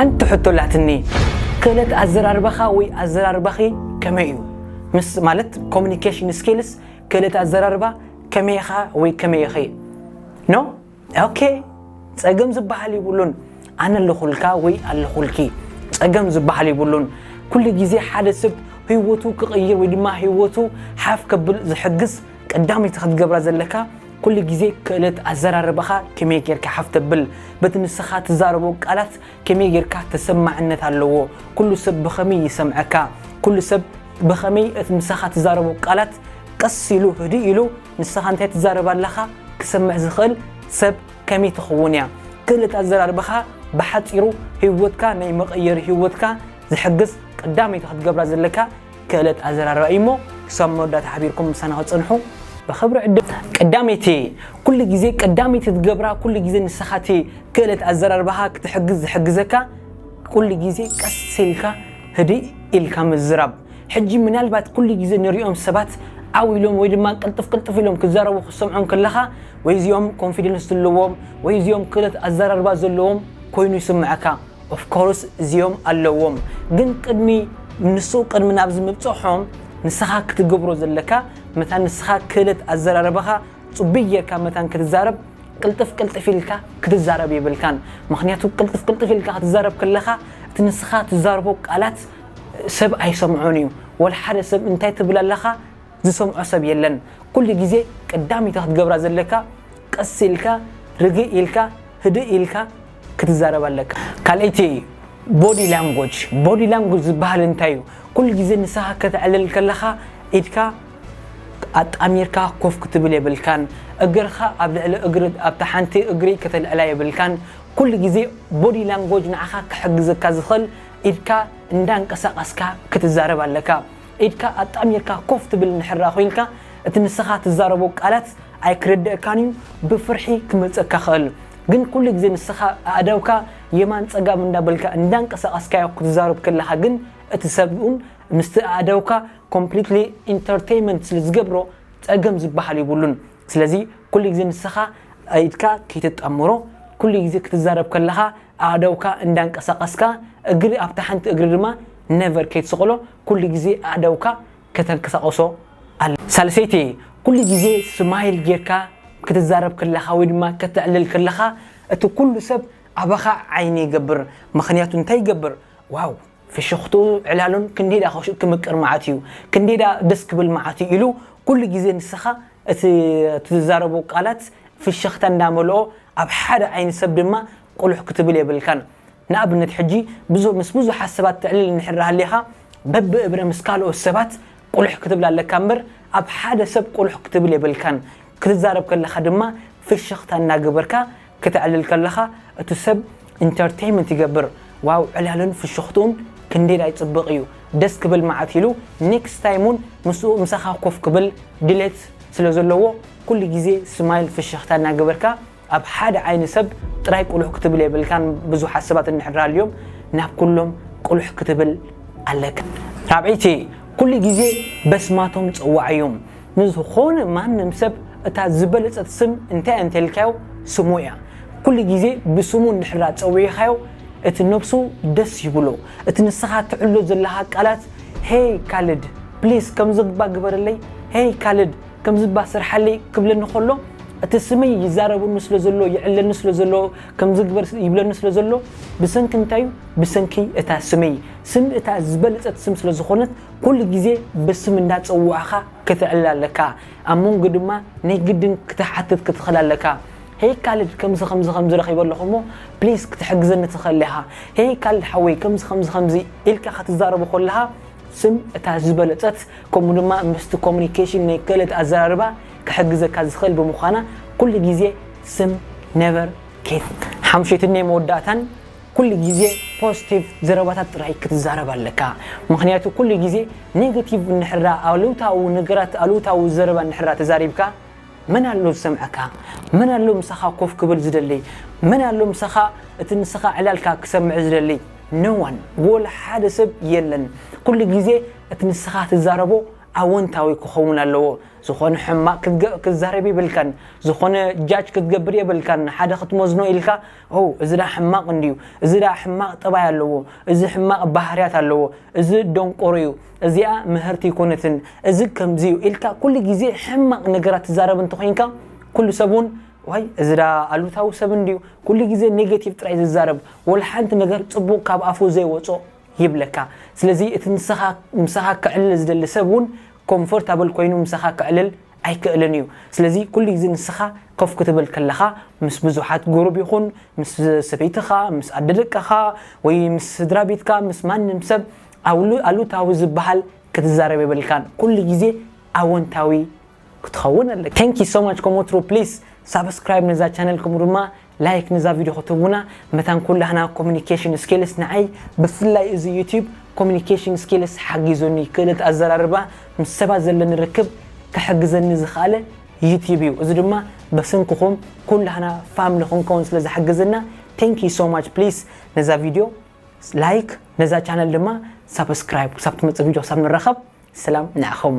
ሓንቲ ሕቶ ኣላትኒ ክእለት ኣዘራርባኻ ወይ ኣዘራርባኺ ከመይ እዩ ምስ ማለት ኮሙኒኬሽን ስኪልስ ክእለት ኣዘራርባ ከመይ ኢኻ ወይ ከመይ ኢኺ ን ኦኬ ጸገም ዝበሃል ይብሉን ኣነ ኣለኹልካ ወይ ኣለኹልኪ ጸገም ዝበሃል ይብሉን ኩሉ ግዜ ሓደ ሰብ ህይወቱ ክቕይር ወይ ድማ ህይወቱ ሓፍ ከብል ዝሕግዝ ቀዳመይቲ ከትገብራ ዘለካ ኩሉ ግዜ ክእለት ኣዘራርባኻ ከመይ ጌርካ ሓፍ ተብል በቲ ንስኻ ትዛረቦ ቃላት ከመይ ጌርካ ተሰማዕነት ኣለዎ ኩሉ ሰብ ብኸመይ ይሰምዐካ ኩሉ ሰብ ብኸመይ እቲ ምሳኻ ትዛረቦ ቃላት ቀስ ኢሉ ህድእ ኢሉ ንስኻ እንታይ ትዛረብ ኣለኻ ክሰምዕ ዝኽእል ሰብ ከመይ ትኸውን እያ ክእለት ኣዘራርባኻ ብሓጺሩ ህይወትካ ናይ መቐየሪ ህይወትካ ዝሕግዝ ቀዳመይቲ ክትገብራ ዘለካ ክእለት ኣዘራርባ እዩ እሞ ክሳብ መወዳእታ ሓቢርኩም ምሳና ክትጸንሑ ብኽብሪ ዕድም። ቀዳመይቲ ኩሉ ግዜ ቀዳመይቲ ትገብራ ኩሉ ግዜ ንስኻ እቲ ክእለት ኣዘራርባኻ ክትሕግዝ ዝሕግዘካ ኩሉ ግዜ ቀስ ኢልካ ህድእ ኢልካ ምዝራብ ሕጂ ምናልባት ኩሉ ግዜ ንሪኦም ሰባት ዓው ኢሎም ወይ ድማ ቅልጥፍ ቅልጥፍ ኢሎም ክዛረቡ ክትሰምዖም ከለኻ ወይ እዚኦም ኮንፊደንስ ዘለዎም ወይ እዚኦም ክእለት ኣዘራርባ ዘለዎም ኮይኑ ይስምዐካ ኦፍ ኮርስ እዚኦም ኣለዎም ግን ቅድሚ ንሱ ቅድሚ ናብዚ ምብጽሖም ንስኻ ክትገብሮ ዘለካ መታን ንስኻ ክእለት ኣዘራርባኻ ጽቡይ ጌርካ መታን ክትዛረብ ቅልጥፍ ቅልጥፍ ኢልካ ክትዛረብ የብልካን ምኽንያቱ ቅልጥፍ ቅልጥፍ ኢልካ ክትዛረብ ከለኻ እቲ ንስኻ ትዛርቦ ቃላት ሰብ ኣይሰምዖን እዩ ወላ ሓደ ሰብ እንታይ ትብል ኣለኻ ዝሰምዖ ሰብ የለን ኩሉ ግዜ ቀዳሚት ክትገብራ ዘለካ ቀስ ኢልካ ርግእ ኢልካ ህድእ ኢልካ ክትዛረብ ኣለካ ካልኣይቲ ቦዲ ላንጎጅ ቦዲ ላንጎጅ ዝባሃል እንታይ እዩ ኩሉ ግዜ ንስካ ከተዕልል ከለካ ኢድካ ኣጣሚርካ ኮፍ ክትብል የብልካን እግርካ ኣብ ልዕሊ እግሪ ኣብታ ሓንቲ እግሪ ከተልዕላ የብልካን ኩሉ ግዜ ቦዲ ላንጎጅ ንዓካ ክሕግዘካ ዝክእል ኢድካ እንዳንቀሳቀስካ ክትዛረብ ኣለካ ኢድካ ኣጣሚርካ ኮፍ ትብል እንድሕራ ኮይንካ እቲ ንስካ ትዛረቦ ቃላት ኣይክርደእካን እዩ ብፍርሒ ክመልፀካ ይክእል ግን ኩሉ ግዜ ንስኻ ኣእዳውካ የማን ጸጋም እንዳ በልካ እንዳ ኣንቀሳቀስካዮ ክትዛረብ ከለኻ ግን እቲ ሰብ ውን ምስቲ ኣእዳውካ ኮምፕሊትሊ ኢንተርተይመንት ስለ ዝገብሮ ጸገም ዝበሃል የብሉን ስለዚ ኩሉ ግዜ ንስኻ ኢድካ ከይትጣመሮ ኩሉ ግዜ ክትዛረብ ከለኻ ኣእዳውካ እንዳ ኣንቀሳቀስካ እግሪ ኣብታ ሓንቲ እግሪ ድማ ነቨር ከይትስቅሎ ኩሉ ግዜ ኣእዳውካ ከተንቀሳቅሶ ኣለካ። ሳልሰይቲ፣ ኩሉ ግዜ ስማይል ጌርካ ክትዛረብ ከለኻ ወይ ድማ ከተዕልል ከለኻ እቲ ኩሉ ሰብ ኣባኻ ዓይኒ ይገብር ምኽንያቱ እንታይ ይገብር ዋው ፍሽኽትኡ ዕላሉን ክንደይዳ ክምቅር መዓት እዩ ክንደይዳ ደስ ክብል መዓት እዩ ኢሉ ኩሉ ግዜ ንስኻ እቲ ትዛረቦ ቃላት ፍሽኽታ እንዳመልኦ ኣብ ሓደ ዓይኒ ሰብ ድማ ቁሉሕ ክትብል የብልካን። ንኣብነት ሕጂ ብዙ ምስ ብዙሓት ሰባት ተዕልል እንድሕር ሃሊኻ በብ እብረ ምስ ካልኦት ሰባት ቁልሕ ክትብል ኣለካ እምበር ኣብ ሓደ ሰብ ቁልሕ ክትብል የብልካን ክትዛረብ ከለኻ ድማ ፍሽኽታ እናገበርካ ክተዕልል ከለኻ እቱ ሰብ ኢንተርተይመንት ይገብር ዋው ዕላሉን ፍሽኽትኡን ክንደይላይ ፅብቅ እዩ ደስ ክብል ማዓት ኢሉ ኔክስት ታይም እውን ምስኡ ምሳኻ ኮፍ ክብል ድሌት ስለዘለዎ ኩሉ ግዜ ስማይል ፍሽኽታ እናገበርካ ኣብ ሓደ ዓይኒ ሰብ ጥራይ ቁሉሕ ክትብል የብልካን ብዙሓት ሰባት እንድሕር ሃልዮም ናብ ኩሎም ቁሉሕ ክትብል ኣለካ። ራብዐይቲ ኩሉ ግዜ በስማቶም ጸዋዓዮም ንዝኾነ ማንም ሰብ እታ ዝበለጸት ስም እንታይ እያ እንተልካዮ ስሙ እያ ኩሉ ግዜ ብስሙ እንድሕር ኣጸዊዕኻዮ እቲ ነብሱ ደስ ይብሎ እቲ ንስኻ ትዕሎ ዘለኻ ቃላት ሄይ ካልድ ፕሊስ ከምዝግባእ ግበረለይ ሄይ ካልድ ከምዚ እባ ስርሓለይ ክብለኒ ከሎ እቲ ስመይ ይዛረበኒ ስለ ዘሎ ይዕለኒ ስለ ዘሎ ከምዚ ግበር ይብለኒ ስለ ዘሎ ብሰንኪ እንታይ እዩ ብሰንኪ እታ ስመይ ስም እታ ዝበለጸት ስም ስለ ዝኾነት ኩሉ ግዜ ብስም እንዳጸዋዕኻ ክትዕልል ኣለካ ኣብ መንጎ ድማ ናይ ግድን ክትሓትት ክትኽእል ኣለካ ሄይ ካልድ ከምዚ ከምዚ ከምዚ ረኺበ ኣለኹ እሞ ፕሊስ ክትሕግዘኒ ትኽእል ኢኻ ሄይ ካልድ ሓወይ ከምዚ ከምዚ ከምዚ ኢልካ ክትዛረቦ ከለኻ ስም እታ ዝበለጸት ከምኡ ድማ ምስቲ ኮሙኒኬሽን ናይ ክእለት ኣዘራርባ ክሕግዘካ ዝኽእል ብምዃና ኩሉ ግዜ ስም Never Kate ሓምሸይትንይ መወዳእታን ኩሉ ግዜ ፖዝቲቭ ዘረባታት ጥራይ ክትዛረብ ኣለካ ምኽንያቱ ኩሉ ግዜ ኔገቲቭ እንድሕራ ኣሉታዊ ነገራት ኣሉታዊ ዘረባ እንድሕራ ተዛሪብካ መን ኣሎ ዝሰምዐካ መን ኣሎ ምሳኻ ኮፍ ክብል ዝደልይ መን ኣሎ ምሳኻ እቲ ንስኻ ዕላልካ ክሰምዕ ዝደልይ No one ወላ ሓደ ሰብ የለን ኩሉ ግዜ እቲ ንስኻ ትዛረቦ ኣወንታዊ ክኸውን ኣለዎ ዝኾነ ሕማቅ ክትዛረብ የብልካን ዝኾነ ጃጅ ክትገብር የብልካን ንሓደ ክትመዝኖ ኢልካ ኦ እዚ ድኣ ሕማቅ እንድዩ እዚ ድኣ ሕማቅ ጠባይ ኣለዎ እዚ ሕማቅ ባህርያት ኣለዎ እዚ ደንቆሮ እዩ እዚኣ ምህርቲ ኣይኮነትን እዚ ከምዚ እዩ ኢልካ ኩሉ ግዜ ሕማቅ ነገራት ትዛረብ እንተኾይንካ ኩሉ ሰብ ውን ዋይ እዚ ድኣ ኣሉታዊ ሰብ እንድዩ ኩሉ ግዜ ኔጌቲቭ ጥራይ ዝዛረብ ወላሓንቲ ነገር ጽቡቅ ካብ ኣፉ ዘይወጾ ይብለካ ስለዚ እቲ ንስኻ ምሳኻ ከዕልል ዝደሊ ሰብ ውን ኮምፎርታብል ኮይኑ ምሳኻ ከዕልል ኣይክእልን እዩ ስለዚ ኩሉ ግዜ ንስኻ ኮፍ ክትብል ከለኻ ምስ ብዙሓት ጉሩብ ይኹን ምስ ሰበይትኻ ምስ ኣደ ደቅኻ ወይ ምስ ስድራቤትካ ምስ ማንም ሰብ ኣሉታዊ ዝበሃል ክትዛረብ የብልካን ኩሉ ግዜ ኣወንታዊ ክትኸውን ኣለካ። Thank you so much ኮሞትሩ please ሳብስክራይብ ነዛ ቻነል ከምኡ ድማ ላይክ ንዛ ቪድዮ ክትህቡና መታን ኩላህና ኮሙኒኬሽን ስኪልስ ንዓይ ብፍላይ እዚ ዩቱብ ኮሙኒኬሽን ስኪልስ ሓጊዙኒ ክእለት ኣዘራርባ ምስ ሰባት ዘለኒ ርክብ ክሕግዘኒ ዝኸኣለ ዩቱብ እዩ እዚ ድማ በስንክኹም ኩላህና ፋምሊ ክንከውን ስለ ዝሓግዝና ቴንክ ዩ ሶ ማች ፕሊስ ነዛ ቪድዮ ላይክ ነዛ ቻነል ድማ ሳብስክራይብ ክሳብ ትመጽእ ቪድዮ ክሳብ ንራኸብ ሰላም ንዓኹም